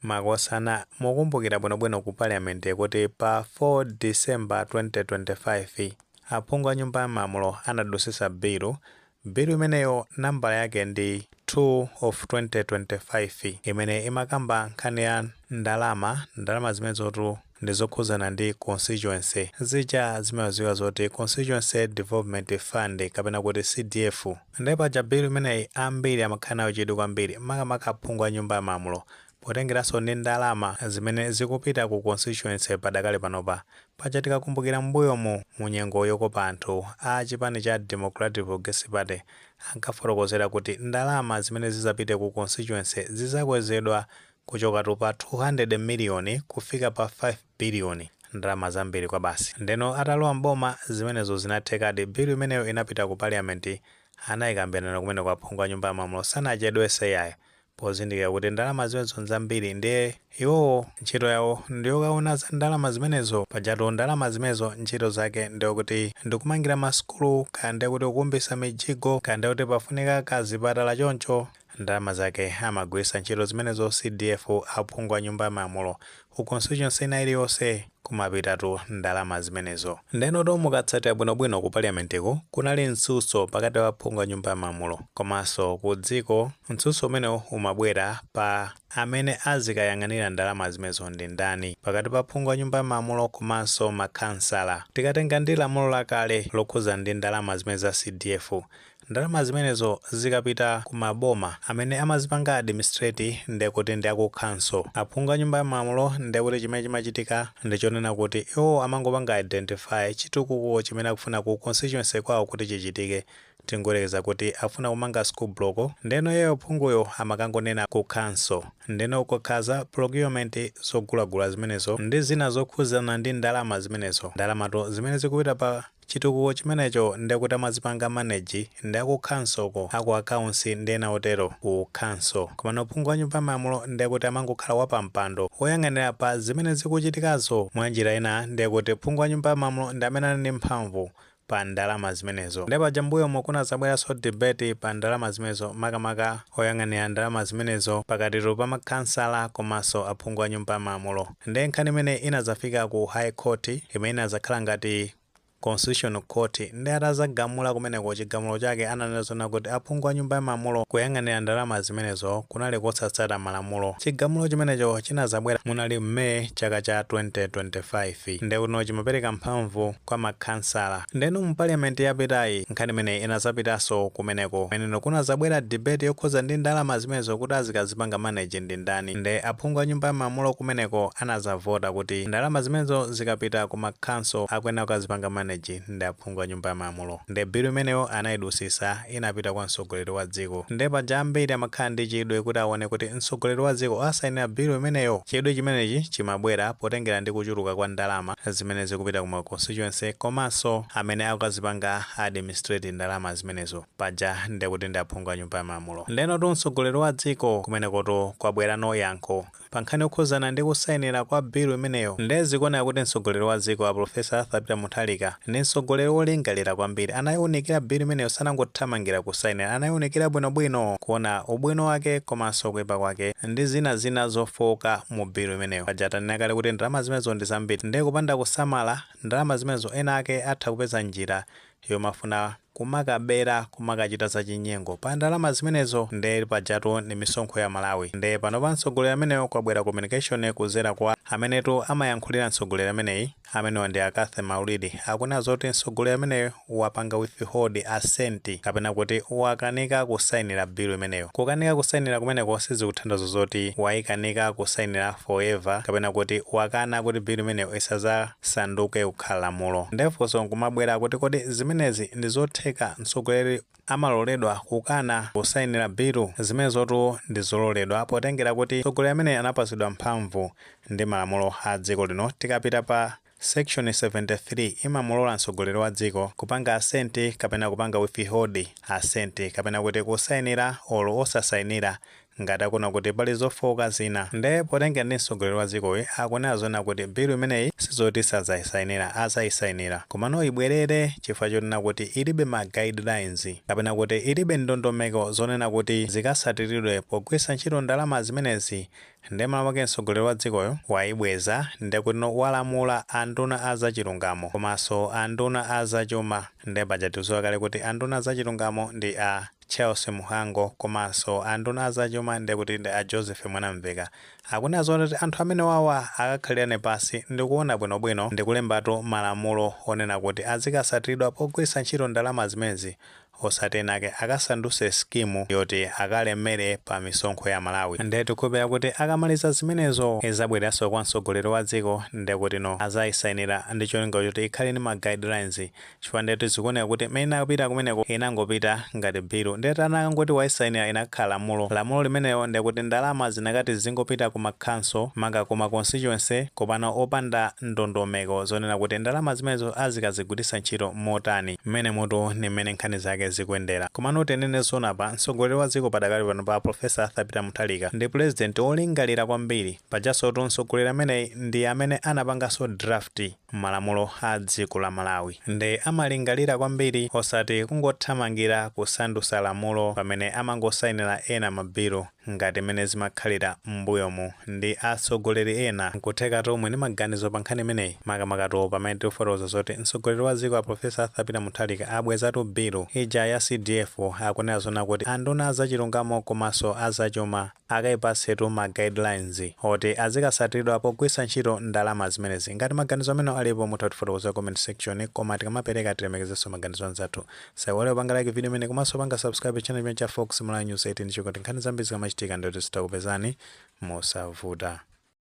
makosana mokumbukira bwinobwino ku parliament kuti pa 4 december 2025 aphungu a nyumba ya malamulo anadutsitsa bilu bilu imeneyo nambala yake ndi 2 of 2025 imene imakamba nkhani ya ndalama ndalama zimenezotu ndizokhudzana ndi constituency zija zimadziwika zoti constituency development fund kapena kuti CDF nde paja bill imeneyi ambiri amakhala nayo chidwi kwambiri makamaka aphungu a nyumba ya malamulo potengeranso ndi ndalama zimene zikupita ku constituency padakali panopa paja tikakumbukira m'mbuyomu mu nyengo yokopa anthu a chipani cha Democratic Progressive Party ankafotokozera kuti ndalama zimene zidzapite ku constituency zidzakwezedwa kuchokatu pa 200 miliyoni kufika pa 5 biliyoni ndalama zambiri kwabasi ndeno atalowa m'boma zimenezo zinathekadi bill imeneyo inapita ku parliament anayikambirana kumeneko aphungu a nyumba ya malamulo sanachedwese yayi pozindikira kuti ndalama zimenezo nzambiri ndiye iwowo ntchito yawo ndiyokawona za ndalama zimenezo pajatu ndalama zimenezo ntchito zake ndi zakuti ndikumangira ma sukulu kaya ndekuti kukumbisa mijigo kaya ndekuti pafunika ka zipatala choncho Ndalama zake amagwiritsa ntchito zimenezo CDF, aphungu a nyumba ya malamulo, ku constituency ina iliyonse kumapitatu ndalama zimenezo. Ndenotu mukatsatira bwinobwino ku parliament'ku kunali mtsutso pakati pa aphungu a nyumba ya malamulo komanso ku dziko, mtsutso umenewu umabwera pa amene azikayang'anira ndalama zimenezo ndi ndani pakati pa aphungu a nyumba ya malamulo komanso makhansala. Tikatenga ndi lamulo lakale lokhudzana ndi ndalama zimenezi za CDF, Ndalama zimenezo zikapita ku ma boma amene amazipanga administrate ndekuti ndi aku council. Aphungu a nyumba ya malamulo ndekuti chimene chimachitika ndi chonena kuti iwowo amangopanga identify chitukuko chimene akufuna ku constituency kwawo kuti chichitike. Tingoyerekeza kuti akufuna kumanga school block ndeno iyeyo phunguyo amakangonena ku council ndeno kukakhala za procurement zogulagula zimenezo ndi zina zokhudzana ndi ndalama zimenezo. Ndalamatu zimene zikupita pa Chitukuko chimenecho nde kuti amazipanga manage ndi aku council uko, aku accounts ndi ena otero ku council. Komano phungu wa nyumba ya malamulo nde kuti amangokhala wa pa mpando woyang'anira pa zimene zikuchitikazo. Mwa njira ina nde kuti phungu wa nyumba ya malamulo ndi amene ali ndi mphamvu pa ndalama zimenezo. Nde paja mbuyomo kunadzabweranso debate pa ndalama zimenezo makamaka oyang'anira ndalama zimenezo pakatitu pa ma khansala komanso aphungu a nyumba ya malamulo. Nde nkhani imene inadzafika ku high court imene inadzakhala ngati constitution court nde atadzagamula kumeneko chigamulo chake ananena zonena kuti aphungu a nyumba yamalamulo kuyang'anira ndalama zimenezo kunali kosatsata malamulo chigamulo chimenecho chinadzabwera munali mu May chaka cha 2025 ndekuti no chimapereka mphamvu kwa makhansala. Ndeno mu parliament yapitayi nkhani imeneyi inazapitanso kumeneko. Kumeneko kunazabwera debate yokhuza ndi ndalama zimenezo kuti azikazipanga manage ndi ndani. Nde aphungu a nyumba ya malamulo kumeneko anazavota kuti ndalama zimenezo zikapita ku ma council akuyenera kukazipanga manage ndi aphungu a nyumba ya malamulo. Nde bill imeneyo anaidusisa. inapita kwa mtsogoleri wa dziko. Nde paja ambiri amakhala ndi chidwi kuti awone kuti mtsogoleri wa dziko asayinira bill imeneyo. Chidwi chimenechi chimabwera potengera ndi kuchuluka kwa ndalama zimene zikupita ku ma constituency komanso amene akukazipanga administrate ndalama zimenezo. Paja ndekuti ndi aphungu a nyumba ya malamulo. Ndenotu mtsogoleri wa dziko kumenekotu kwabwerano yankho. pa nkhani yokhudzana ndi kusainira kwa bilu imeneyo nde zikuoneka kuti mtsogoleri wa dziko a Professor Arthur Peter Mutharika ndi mtsogoleri wolingalira kwambiri, anaiunikira bilu imeneyo sanangothamangira kusainira, anaiunikira bwinobwino kuona ubwino wake komanso kuipa kwake ndi zina zina zofooka mu bilu imeneyo. Paja tanena kale kuti ndalama zimenezo ndi zambiri nde kupanda kusamala, ndalama zimenezo ena ake atha kupeza njira yomafuna kumakabera kumakachita zachinyengo pa ndalama zimenezo nde pajatu ni misonkho ya Amalawi nde panopa mtsogoleri ameneyo kwabwera communication kuzera kwa amenetu amayankhulira mtsogoleri ameneyi amenewa ndi a Cathy Maulidi akunena zoti mtsogoleri ameneyo wapanga withhold assent kapena kuti wakanika kusainira bilu imeneyo kukanika kusainira kumeneko sizikutanthauza zoti waikanika kusainira forever kapena kuti wakana kuti bilu imeneyo isaza sanduke kukhala lamulo. Nde funso nkumabwera kuti kodi zimenezi ndi zotheka? Mtsogoleri amaloledwa kukana kusayinira bilu? Zimenezotu ndi zololedwa potengera kuti mtsogoleri ameneyi anapatsidwa mphamvu ndi malamulo a dziko lino. Tikapita pa Section 73 imamulola mtsogoleri wa dziko kupanga assent kapena kupanga withhold assent kapena kuti kusayinira or osasayinira ngati akuona kuti pali zofooka zina nde potengera ndi mtsogoleri wa dzikoyu akunena zonena kuti bill imeneyi sizoti sadzaisainira adzaisainira komano ibwerere chifukwa chonena kuti ilibe ma guidelines kapena kuti ilibe ndondomeko zonena kuti zikatsatiridwe pogwiritsa ntchito ndalama zimenezi nde malo mwake mtsogoleri wa dzikoyo waibweza ndekutino walamula anduna a zachilungamo komanso anduna a zachuma nde paja tikudziwa kale kuti anduna a zachilungamo ndi a Charles Mhango komanso anduna a zachuma ndekuti ndi a Joseph Mwanamveka akunena zoti anthu amenewawa akakhalirane pansi ndikuona bwinobwino ndikulembatu malamulo onena kuti azikasatiridwa pogwiritsa ntchito ndalama zimenezi osati ena ake akasandutse scheme yoti akalemere pa misonkho ya Amalawi nde tikukhulupirira kuti akamaliza zimenezo izabwereranso kwa mtsogoleri wa dziko ndekutino azayisainira ndicholinga choti ikhale ndi ma guidelines chifukwa ndetu zikuoneka kuti mmene inapita kumeneko inangopita ngati bilu ndiye kuti anakangoti wayisainira inakhala lamulo lamulo limenelo ndekuti ndalama zinakati zingopita ku ma council maka ku ma constituency komano opanda ndondomeko zonena kuti ndalama zimenezo azikazigwiritsa ntchito motani mmenemutu ndi mmene nkhani zake zikuyendera komano tinene zoona apa mtsogoleri wa dziko padakali pano pa professor arthur peter mutharika ndi pulezidenti wolingalira kwambiri pajansotu mtsogoleri ameneyi ndi amene anapanganso draft malamulo a dziko la Malawi nde amalingalira kwambiri osati kungothamangira kusandusa lamulo pamene amangosainila ena ma bill ngati mmene zimakhalira mmbuyomu ndi atsogoleri ena, nkuthekatu muli ndi maganizo pa nkhani imeneyi makamakatu pamene tikufotokoza zoti mtsogoleri wa dziko a Professor Arthur Peter Mutharika abwezatu bill ija ya CDF akunena zonena kuti anduna a zachilungamo komanso a zachuma akaipatsetu ma guidelines oti azikasatiridwa pogwiritsa ntchito ndalama zimenezi. Ngati maganizo amenewo alipo mutha kutifotokozera ku comment section koma tikamapereka tilemekezenso maganizo anzathu. Tisaiwale kupanga like video imeneyi komanso kupanga subscribe channel chimenechi cha Fox Malawi News 18 chikuti nkhani zambiri zikamachitika ndiye kuti zidzikupezani mosavuta.